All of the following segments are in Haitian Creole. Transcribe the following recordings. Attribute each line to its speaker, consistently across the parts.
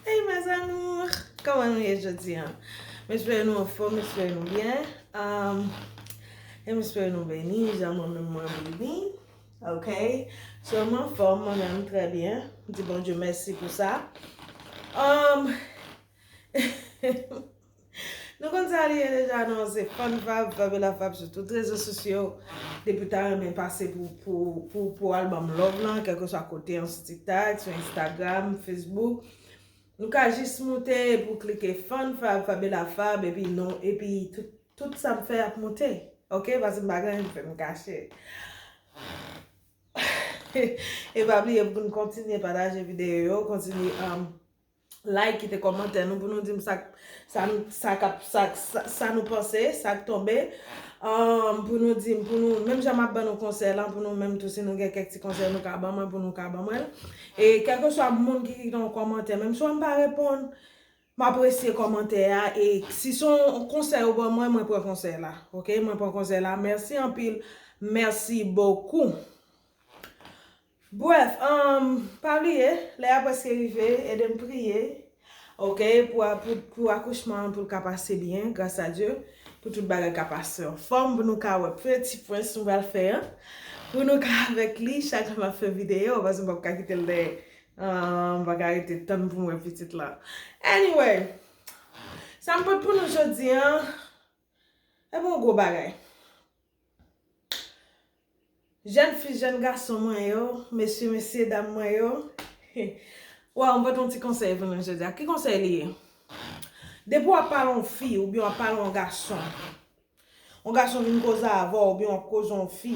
Speaker 1: Hey mes amours Koman nou ye jodi an? M espere nou anfòm, m espere nou byen E m espere nou beni jan mwen menm mwen beni Ok So m anfòm, mwen menm trè byen M di Bondye mèsi pou sa Humm Hehe Nou konn sa li ye deja non se fun vab vab e la fab sou tout rezo sosyo depi ou ta renmen pase pou al banm love lan kèlkeswa kote an sou tiktak sou instagram facebook nou ka jis moute epi ou klike fun vab vab e la fab epi nou epi tout sa m fè ap moute ok paske m pa gen anyen m fè m kache e pa bliye pou nou kontinye pataje videyo yo kontinye like kite kòmantè nou pou nou dim sak sa nou sa kap sa sa nou panse sak tonbe anm pou nou dim pou nou menm jan map ban nou konsèy lan pou nou menm tou si nou gen kèk ti konsèy nou ka ban mwen pou nou ka ban mwen e kèlkeswa moun ki kite yon kòmantè menm si wè m pa reponn m apresye kòmantè a e si son konsèy ou ban mwen mwen pran konsèy la ok mwen pran konsèy la mèsi anpil mèsi bokou. Bref umm pa bliye lè ya preske rive edem priye ok pou pou akouchman an poul ka pase byen gras a Dye pou tout bagay ka pase anfom pou nou ka wè peti prens nou pral fè an pou nou ka avek li chak jou map fè video paske m pap ka kitel dèyè umm m paka rete tann poum wè pitit lan anyway sam pot pou nou jodi an. E bon gwo bagay. Jèn fi jèn gason mwen yo, mesye mesye dam mwen yo, waw mwen pote yon ti konsèy pou nou jodi a. Ki konsèy li ye? Depi wap pale yon fi oubyen wap pale yon gason, yon gason vin koze avèw oubyen wap koze yon fi.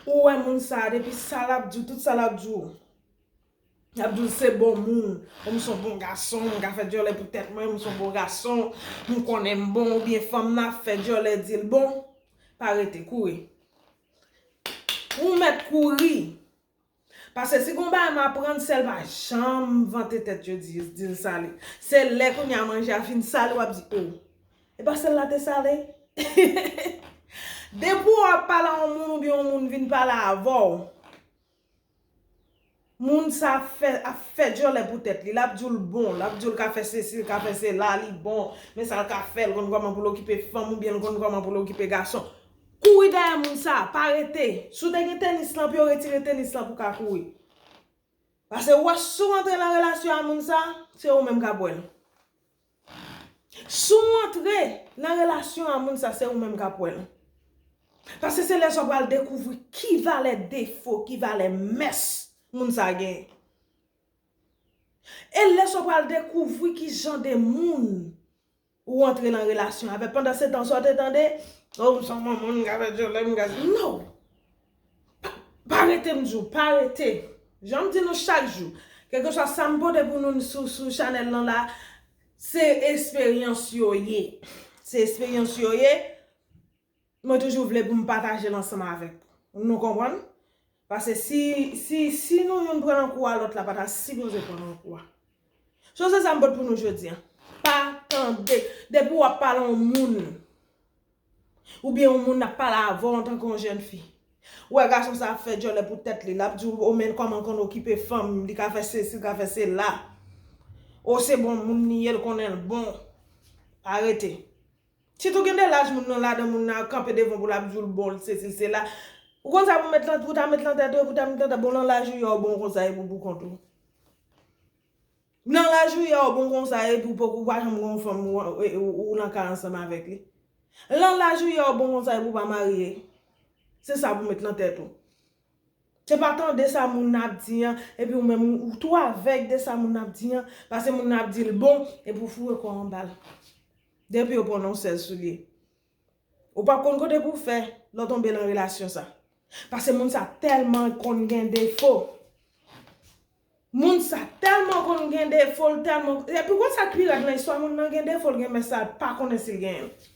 Speaker 1: Ou wè moun sa depi sa lap diw tout sa lap diw Lap diw se bon moun Ou m son bon gason m ka fè dyòlè pou tèt mwen m son bon gason M konnen m bon ou byen fanm nan ap fè dyòlè dil bon Pa rete kouri Ou mèt kouri Paske si gon bagay m aprann sèl pa janm vante tèt yo dil sale se lè kounya manje a fin sale wap di oh epa sèl la te sale depi w ap pale a on moun oubyen on moun vin pale avè w moun sa ap fè dyòlè pou tèt li lap di w l bon lap di w l ka fè sesi l ka fè sela li bon men sa l ka fè l konn kòman pou l okipe fanm oubyen l konn kòman pou l okipe gason Kouri dèyè moun sa, pa rete. Si w te gen tenis lan pi yo retire tenis lan pou w ka kouri. Pase ou wè si w antre nan relasyon a moun sa, se ou menm k ap wè l. Si w antre nan relasyon a moun sa, se ou menm k ap wè l. Pase se lè sa w pral dekouvri ki valè defo, ki valè mès moun sa genyen. E lè sa w pral dekouvri ki jan de moun. ou antre nan relasyon avè pandan se tan sa w te tande oh m son moun m ka fè dyòlè m ka no pa rete m di w pa rete jan m di nou chak jou kèlkeswa sa m pote pou nou n sou chanèl lan la se esperyans yo ye se esperyans yo ye Mwen toujou vle pou m pataje l ansanm avèk nou konprann? Pase si si si nou youn pran nan kou a lòt la pa ta sipoze pran nan kou a. So se sa m pot pou nou jodi an. Pa tande depi w ap pale yon moun oubyen yon moun ap pale avè w antanke yon jèn fi ou wè gason sa ap fè djòlè pou tèt li l ap di w o men kòman l konn okipe fanm li ka fè sesi li ka fè sela o se bon moun li ye l konnen l bon pa rete. Sitou gen de laj moun nan ladan moun nan ap kanpe devan pou lap diw l bon l sesi l sela ou konn sa pou met lan pou ta met lan tèt ou epou ta met lan tèt bon lan laj ou ya ou bon konsa epou pou kont ou lan laj ou ya ou bon konsa epou poko ou pa janm gen yon fanm ou lan ka ansanm avèk li lan laj ou ya ou bon konsa epou pa marye se sa pou met lan tèt ou se pa tande sa moun nan ap di an epi ou menm ou tou avèg de sa moun nan ap di an pase moun nan ap di l bon epou foure kòw anba l. Depi yo pran non sèl soulye. Ou pap konn kote pou fè lè w tonbe lan relasyon sa. Pase moun sa tèlman konn gen defo. Moun sa tèlman konn gen defo l tèlman. Epi ou konn sa k pi rèd lan istwa moun nan gen defo l gen mès sa l pa konnen si l genyen l.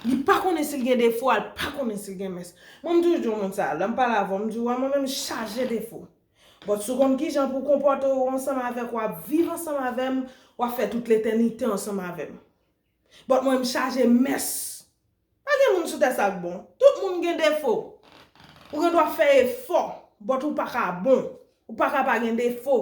Speaker 1: Li pa konnen si l gen defo a l pa konnen si l gen mès. Mwen m toujou di w moun sa lè m pale avè w m di w wè mwen menm m chaje defo. But si w konn kijan pou w konpòte w ansanm avèk w ap viv ansanm avè m, w ap fè tout letènite ansanm avè m. But mwen m chaje mès. Pa gen moun sou tè sa k bon. Tout moun gen defo. Ou gen dwa fè efò, but ou pa ka bon. Ou pa ka pa gen defo.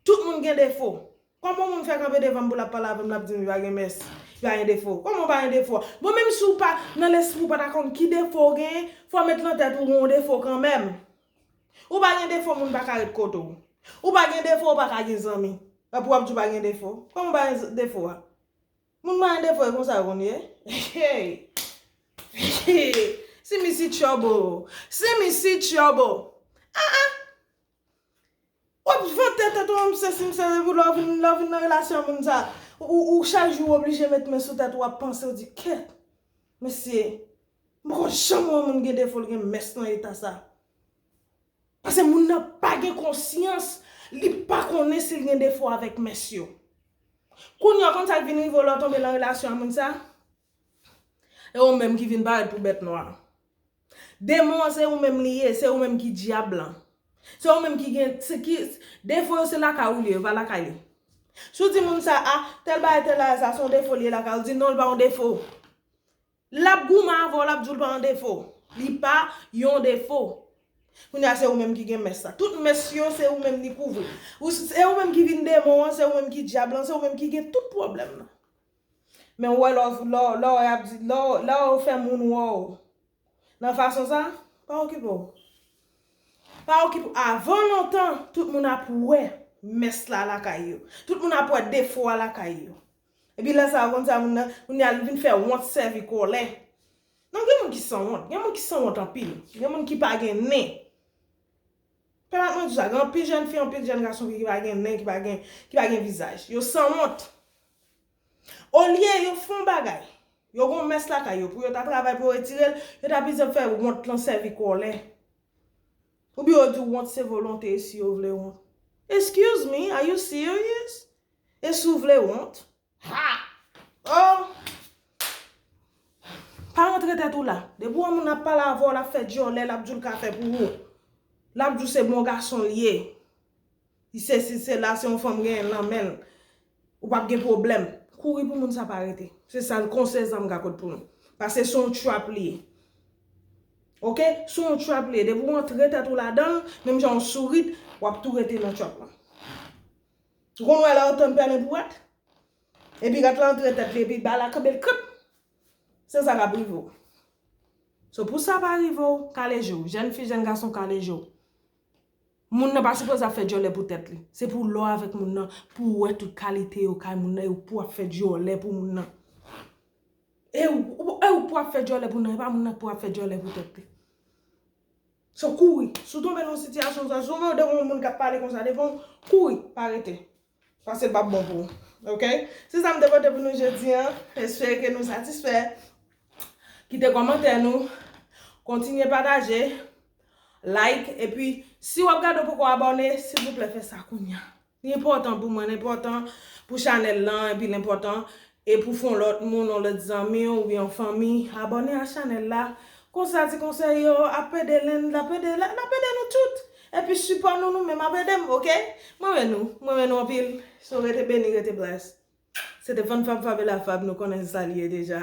Speaker 1: Tout moun gen defo. Koman yon moun fè kanpe devan m pou l ap pale avè m l ap di m li pa gen mès, li pa gen defo? Koman w pa gen defo? Bon menm si w pa, nan lespri w pa ta konn ki defo w genyen, fò w met lan tèt ou w gen yon defo kanmenm. Ou pa gen defo moun pa ka ret kote w. Ou pa gen defo ou pa ka gen zanmi. Epi w ap di w pa gen defo? Koman w pa gen defo a? Moun pa gen defo e konsa yo konn ye? Hey! Hey! Simi si trouble! Simi si trouble! Ah ah! Wap vante tèt ou an m sesi m sa epi lè w vin lè w vin nan relasyon moun sa ou chak jou ou oblije met men sou tèt ou wap panse ou di kèt mesye m poko janm wè moun gen defo l gen mès nan eta sa pase moun nan pa gen konsyans li pa konnen si l gen defo avèk mès yo kounye a ou konn sa k vin rive w lè w tonbe nan relasyon moun sa e ou menm ki vin parèt pou bèt nwa. Demon an se ou menm li ye, se ou menm ki dyab lan. Se ou menm ki gen, se ki, defo yo se lakay ou li ye, va lakay li. Si w di moun sa a, tèl bagay tèl bagay sa a se yon defo li ye lakay ou, li di non li pa yon defo. L ap goumen avè w, l ap di w li pa yon defo. Li pa yon defo. Kounye a se ou menm ki gen mès la. Tout mès yo se ou menm li kouvri. Se ou menm ki vin demon an, se ou menm ki dyab lan, se ou menm ki gen tout pwoblèm nan. Men ou wè lè w lè w lè w ap di lè w lè w fè moun wè w nan fason sa pa okipe w pa okipe w avan lontan tout moun ap wè mès la lakay yo tout moun ap wè defo a lakay yo epi lè sa ou konn sa moun nan kounye a li vin fè wont sèvi kòlè non gen moun ki sanwont gen moun ki sanwont anpil gen moun ki pa gen nen. Pè map mwen di sa gen anpil jèn fi anpil jèn gason ki pa gen men ki pa gen ki pa gen vizaj yo sanwont olye yo fon bagay yo gon mès lakay yo pou yo ta travay pou yo retirel yo ta pito fè wont lan sèvi kòlè oubyen yo di wont se volonte e si yo vle wont excuse me are you serious e si w vle wont Haa ooh Pa rantre tèt ou la Depi ou wè moun ap pale avèw lap fè dyòlè lap diw l ka fè pou ou Lap diw se bon gason l ye Li sesi sela se yon fanm genyen nan menl Ou pap gen pwoblèm Kouri pou moun sa pa rete Se sal konsèy sa m ka pot pou nou Pase se yon trap li ye Ok Se yon trap li ye Depi ou rantre tèt ou ladanl Menm jan ou sourit Wap tou rete nan trap lan. Ou konn wè lè otan pèlen pou rat? Epi rat la antre tèt li epi bal la kanbe l krip! Se sa k ap rive w. So pou sa pa rive w, kale je w. Jèn fi, jèn gason kale je w. Moun nan pa sipoze ap fè dyòlè pou tèt li. Se pou lè w avèk moun nan, pou w wè tout kalite yo kay moun nan e ou pou ap fè dyòlè pou moun nan. E ou pou ap fè dyòlè pou moun nan, e pa moun nan k pou ap fè dyòlè pou tèt li. Se w kouri. Si w tonbe nan yon sitiyasyon konsa, si w wè devan w yon moun k ap pale konsa devan w, kouri, pa rete. Paske l p ap bon pou ou. Ok? Se sa m te pote pou nou jodi an. Espere ke nou satisfè. Kite kòmantè nou. Kontinye pataje. Like. Epi, si w ap gade ou poko abòne, silvouplè fè sa kounya. Li enpòtan pou mwen, l enpòtan pou chanèl lan epi l enpòtan e pou fon lòt moun, yon lòt zanmi w oubyen yon fanmi abòne a chanèl la, konsa ti konsèy yo ap ede len, l ap ede lòt, l ap ede nou tout. Epi sipò nou nou menm ap ede m ok. M renmen nou, m renmen nou anpil. So rete beni, rete blessed. Se te Fann Fab Fabela Fab nou konnen sa l ye deja.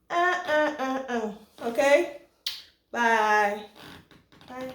Speaker 1: Eh eh eh eh ok bye bye.